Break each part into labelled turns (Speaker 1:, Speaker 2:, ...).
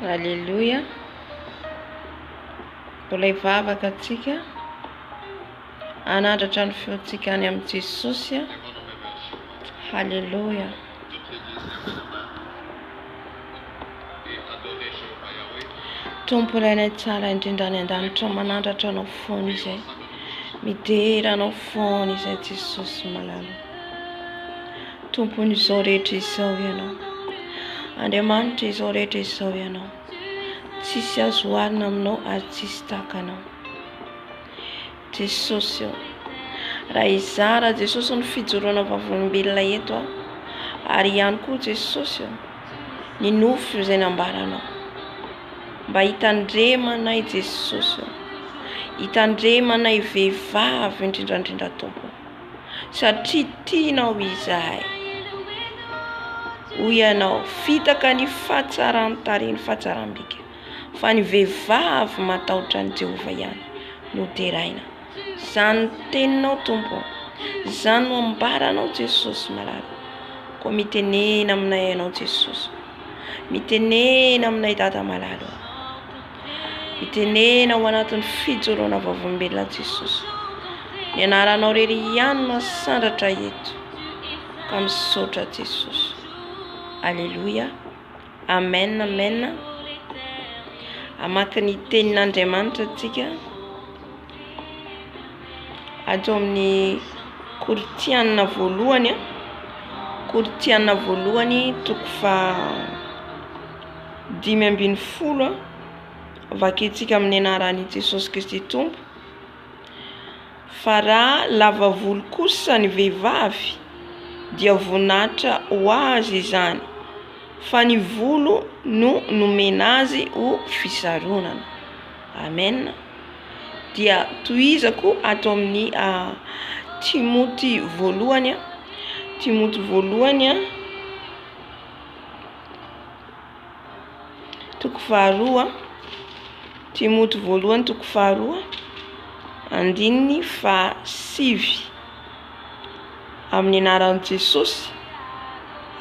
Speaker 1: Alléluia. Mbola hivavaka antsika hanandratra ny feontsika any amin'i Jesosy. Alléluia. Tompo ilay ilay tsara indrindra any an-danitra manandratra anao foana izay. Midera anao foana izay Jesosy malala. Tompon'izao rehetra izao Ianao. Andriamanitr'izao rehetra izao Ianao. Tsisy azo oharina aminao ary tsisy tahaka Anao. Jesosy ô, raha hizara Jesosy ny fijoroana vavolombelona eto aho, ary ihany koa Jesosy ô, ny nofy izay nambaranao. Mba hitandremanay Jesosy ô, hitandremanay vehivavy indrindrandrindra Tompo. satria tianao izahay. Hoy ianao, fitaka ny fahatsaran-tarehy ny fahatsaram-bika, fa ny vehivavy matahotra an'i Jehovah ihany no deraina. Izany no teninao, Tompo ô. Izany no ambaranao, Jesosy malala. Koa mitenena aminay ianao, Jesosy ô. Mitenena aminay, Dada malala ô. Hitenena ao anatin'ny fijoroana vavolombelona Jesosy. Ny anaranao irery ihany no asandratra eto. Ka misaotra Jesosy. Aleloia. Amen, amen. Amaky ny tenin'Andriamanitra antsika. Ato amin'ny Korintianina voalohany, Korintianina voalohany toko fa dimy ambin'ny folo vakintsika amin'ny anaran'i Jesosy Kristy Tompo fa raha lava volo kosa ny vehivavy dia voninahitra ho azy izany fa ny volo no nomena azy ho fisaronana amen dia tohizako ato amin'ny ah, Timoty voalohany Timoty voalohany Toko faharoa, Timoty voalohany toko faharoa andininy fahasivy amin'ny anaran'i Jesosy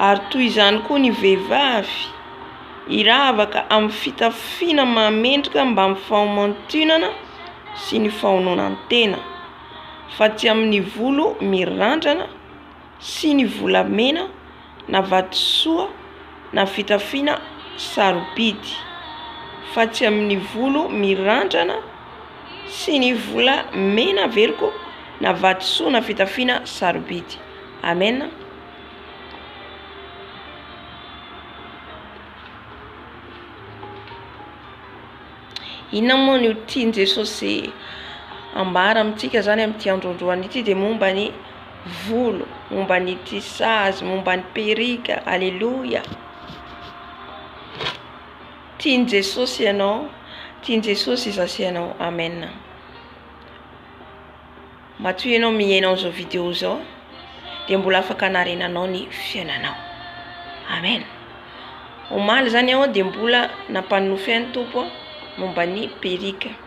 Speaker 1: ary toy izany koa ny vehivavy hiravaka amin'ny fitafiana mahamendrika mbamin'ny fahamantinana sy ny fahaononan-tena fa tsy amin'ny volo mirandrana sy ny volamena na vatosoa na fitafiana sarobidy fa tsy amin'ny volo mirandrana sy ny vola mena averiko na vatosoa na fitafiana sarobidy amena inona moa ny ho tian'i Jesosy ambara amintsika zany amin'ity androandroany ity dia momba ny volo, momba ny tissage, momba ny perruque, aleloia, tian'i Jesosy ianao, tian'i Jesosy izaho sy ianao, amen, matoa ianao mihaino an'izao video izao dia mbola afaka hanarenanao ny fiainanao, amen, omaly zany aho dia mbola nampanonofy ahy ny Tompo momba ny perruque.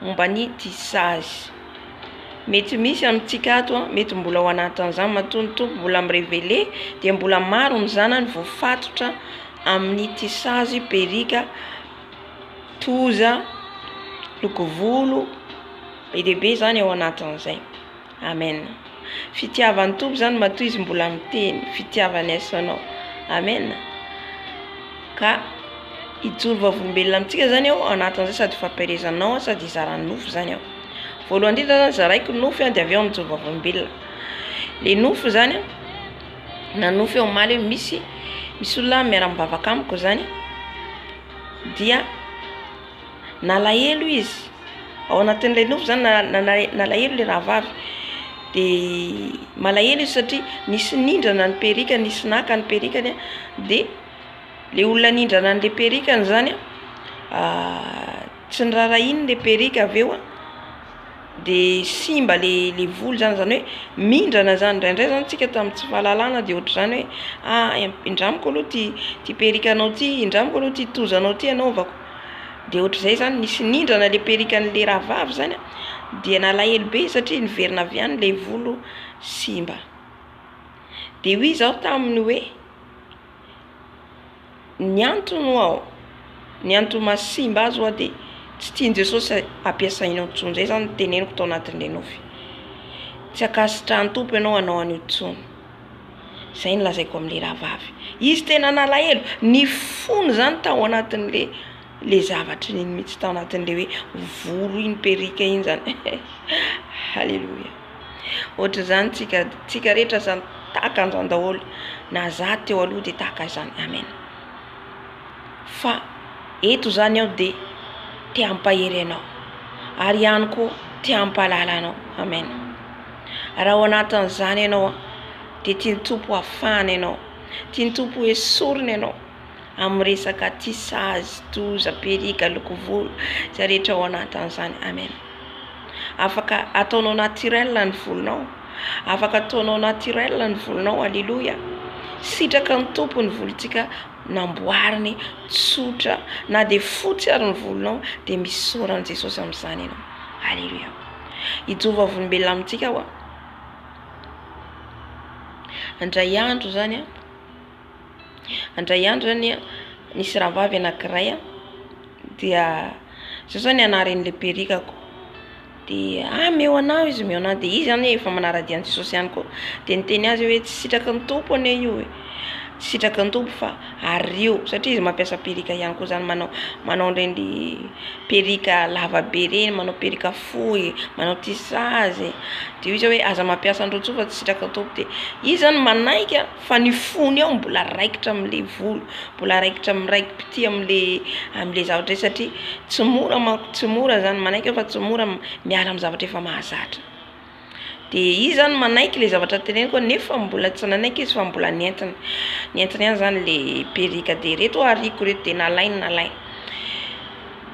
Speaker 1: momba ny tissage. Mety misy amintsika ato a, mety mbola ao anatin'izany matoa ny Tompo mbola mi-reveler dia mbola maro ny zanany voafatotra amin'ny tissage, perruque, toza, lokovolo, be dia be izany ao anatin'izay. Amen fitiavan'ny Tompo zany matoa izy mbola miteny fitiavany aiso anao amen ka hijoro vavolombelona amintsika zany aho anatin'izay sady hifampielezanao aho sady hizara ny nofo zany aho voalohany indrindra zany zaraiko ny nofo de avy eo mijoro vavolombelona le nofo zany na nofo eo omaly eo misy misy olona miara mivavaka amiko zany dia Nalahelo izy, ao anatin'ilay nofy zany nalahelo ilay rahavavy, de malahelo izy satria nisy nindrana ny perikany, nisy naka ny perikany a, de le olona nindrana an'le perikany zany a tsy noraharahiany le perika avy eo de simba le le volo zany, zany hoe mindrana zany indraindray zany tsika tamin'ny tsy fahalalana de ohatran'ny hoe ah indramiko aloha ty ty perikanao ty, indramiko aloha ty tozanao ty anaovako. Dia ohatr'izay izany nisy nindrana ilay perikan'ilay rahavavy izany a, dia nalahelo be izy satria niverina avy any ilay volo simba. Dia hoy izaho taminy hoe, ny antony hoa o, ny antony mahasimba azy hoa dia tsy tian'i Jesosy ampiasainao intsony, izay izany no teneniko tao anatin'ilay nofy. Tsy ankasitrahan'ny Tompo ianao hanao an'io intsony. Izay no lazaiko amin'ilay rahavavy. Izy tena nalahelo, ny fony izany tao anatin'ilay ilay zavatra iny mihitsy, tao anatin'ilay hoe volo iny, perruque iny izany. Haleloia! Ohatr'izany tsika, tsika rehetra izany, tahaka an'izany daholo. Na izaho teo aloha dia tahaka izany. Amen. Fa eto izany aho dia te hampahery anao, ary ihany koa te hampahalala anao. Amen. Raha ao anatin'izany ianao dia tian'ny Tompo hafahana ianao, tian'ny Tompo ho esorina ianao amin'ny resaka aty sazy, doza, perika, loko volo izay rehetra ao anatin'izany. Amen. Afaka ataonao naturel ny volonao, afaka ataonao naturel ny volonao. Aleloia. Sitraka ny Tompo ny volontsika namboariny tsotra na dia fotsy ary ny volonao dia misaora an'i Jesosy amin'izany ianao. Aleloia. Hijoa vavolombelona amintsika aho an. Andray andro izany an, andray andro izany an, nisy rahavavy anakiray an, dia zao izao ny anaren'ilay perikako, dia ah meo anah izy meo anah, dia izy izany efa manara-dia an'i Jesosy ihany koa, dia niteny azy hoe tsy sitraky ny Tompo anie io e, Sitraky ny Tompo fa ario satria izy mampiasa perruque ihany koa zany manao manao an'ireny perruque lava be ireny, manao perruque fohy, manao tissage, de hoy izy hoe aza mampiasa an'ireo intsony fa tsy sitraky ny Tompo de izy zany manaiky a fa ny fony ao mbola raikitra amle volo mbola raikitra miraikim-pitia amle amle zavatra hoe satria tsy mora manko tsy mora zany manaiky aho fa tsy mora miala amin'ny zavatra efa mahazatra. Dia izy izany manaiky ilay zavatra teneniko nefa mbola tsy nanaiky izy fa mbola ny entiny. Ny entiny ihany izany ilay perruque dia ireto ho'a ariako ireto dia nalainy nalainy.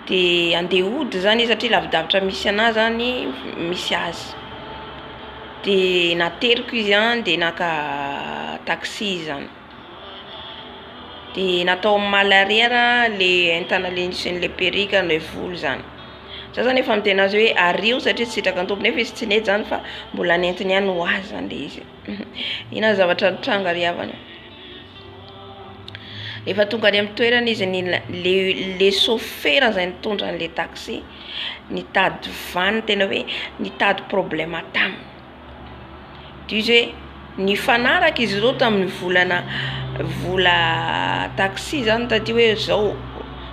Speaker 1: Dia andeha hody izany izy satria lavidavitra misy anà izany misy azy. Dia nateriko izy an dia naka taxi izy izany. Dia natao amin'ny maha l'arrière le entana le sy ny le perruque le volo zany. Za zany efa miteny azy hoe ario satria tsy sitraky ny tompony nefa izy tsy nety zany fa mbola nentiny ihany ho azy zany le izy. Ino ary zavatra nitranga ry havana. Efa tonga any amin'ny toerana izy le le sôfera izay nitondra an'ilay taxi nitady vaniny tena hoe nitady problème taminy. Dire, nifanaraka izy ireo tamin'ny volana vola taxi zany taty hoe zao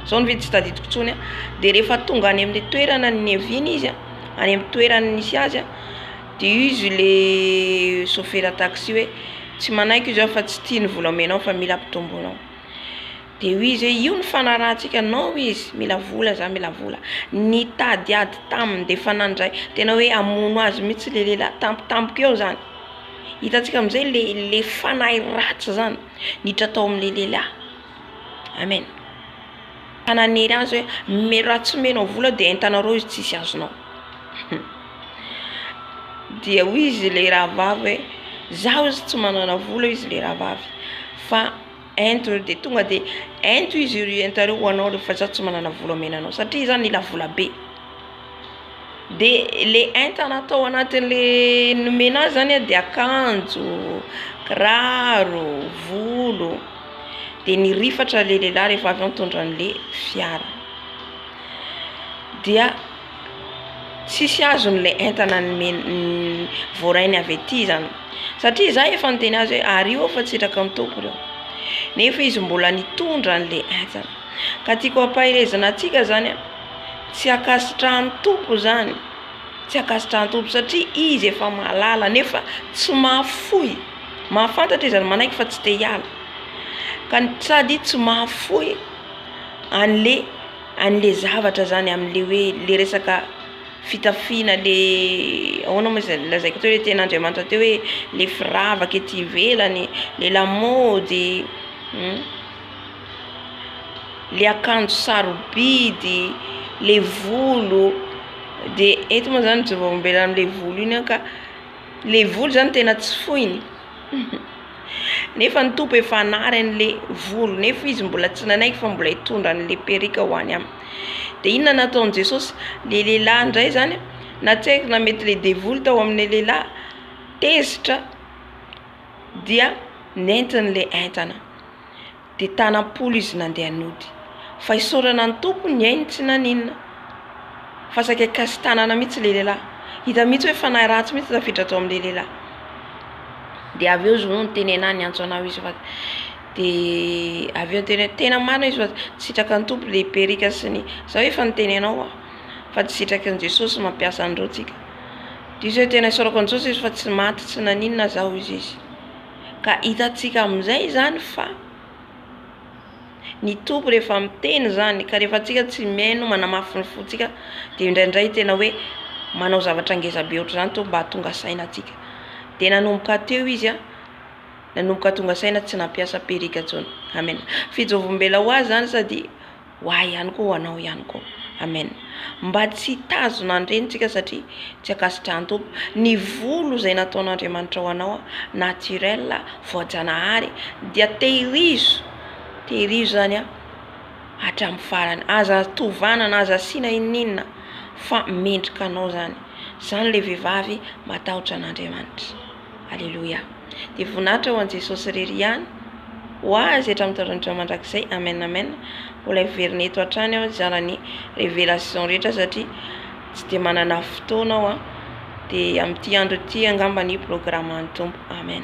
Speaker 1: zao ny vidiny tsy tadidiko intsony a, de rehefa tonga any amin'ny toerana niaviany izy a, any amin'ny toerana nisy azy a, de io izy le sôfera taxi hoe tsy manaiky io zah fa tsy tia ny vola omenao fa mila ampitomboinao. Dia hoy izy hoe, io ny fanarahantsika anao hoy izy, mila vola za mila vola. Nitady ady taminy dia efa nandray, tena hoe hamono azy mihitsy le lehilahy tampotampoka eo zany. Hitantsika amizay le le fanahy ratsy zany niditra tao amle lehilahy. Amen. Ka nanery azy hoe omeo raha tsy omenao vola aho dia entanareo izy tsisy azonao. Dia hoy izy le rahavavy hoe, za ozy tsy manana vola hoy izy le rahavavy fa. Ento ireo dia tonga dia ento izy ireo ento ireo ho anao rehefa izaho tsy manana vola omena anao satria izaho mila vola be. Dia ilay entana atao anatin'ilay nomena azy zany dia akanjo, kiraro, volo, dia ny rifatra ilay lehilahy rehefa avy eo mitondra an'ilay fiara dia. Tsisy azony ilay entana nomen voarainy avy aty zany satria za efa niteny azy hoe ario aho fa tsy hitraka ny tompony aho nefa izy mbola nitondra anle entana ka tiako hampaherezana atsika zany a tsy ankasitrahan tompo zany tsy ankasitrahan tompo satria izy efa mahalala nefa tsy mahafoy mahafantatra izy ary manaiky fa tsy te hiala ka sady tsy mahafoy anle anle zavatra zany amle hoe le resaka fitafiana le ahoana moa izay lazaiko teo le teny Andriamanitra teo hoe le firavaka ety ivelany le lamaody hum le akanjo sarobidy le volo de eto moa zany jorombela amle volo iny an ka le volo zany tena tsy foiny. Nefa ny Tompo efa hanary an'le volo nefa izy mbola tsy nanaiky fa mbola hitondra an'le perruque ho any aminy. De inona nataon'i Jesosy? Le lehilahy indray zany a, na tsy haiko na mety le devoly tao amin'le lehilahy tezitra dia nentin'le entana. Dia tana am-polo izy nandeha nody. Fa hisaorana ny Tompo ny ainy tsy naninona. Fa saika kasi-tanana mihitsy ilay lehilahy. Hita mihitsy hoe fanahy ratsy mihitsy tafiditra tao amin'ilay lehilahy. Dia avy eo izy no niteny ahy niantso anao izy fa dia avy eo niteny hoe tena marina izy fa tsy sitraky ny Tompo ilay perika sy ny za hoe efa niteny anao aho fa tsy sitraky ny Jesosy mampiasa an'ireo tsika. Dia izy hoe tena isaorako an'i Jesosy izy fa tsy maty tsy naninona za hoy izy. Ka hitantsika amin'izay izany fa ny Tompo rehefa miteny izany ka rehefa antsika tsy mihaino manamafy ny fontsika dia indraindray tena hoe manao zavatra ngezabe ohatr'izany ny Tompo mba hahatonga saina antsika. Dia nanomboka teo izy a, nanomboka tonga saina tsy nampiasa perika intsony. Amena. Fijery ombela ho azy izany sady. ho ahy ihany koa ho anao ihany koa amen mba tsy hitazona ny renintsika satria tsy ankasitrahan'ny Tompo ny volo izay nataon'Andriamanitra ho anao naturel voajanahary dia tehirizo tehirizo izany an hatramin'ny farany aza tovana na aza asiana inon'inona fa mendrika anao izany izany ilay vehivavy matahotra an'Andriamanitra Aleloia. Dia voninahitra ho an'i Jesosy irery ihany. Ho Azy hatramin'ny taolan-drindra mandrakizay. Amen Amen. Mbola hiverina eto hatrany aho hizara ny révélation rehetra satria tsy dia manana fotoana aho. Dia amin'ity andro ity angamba ny programan'ny Tompo. Amen.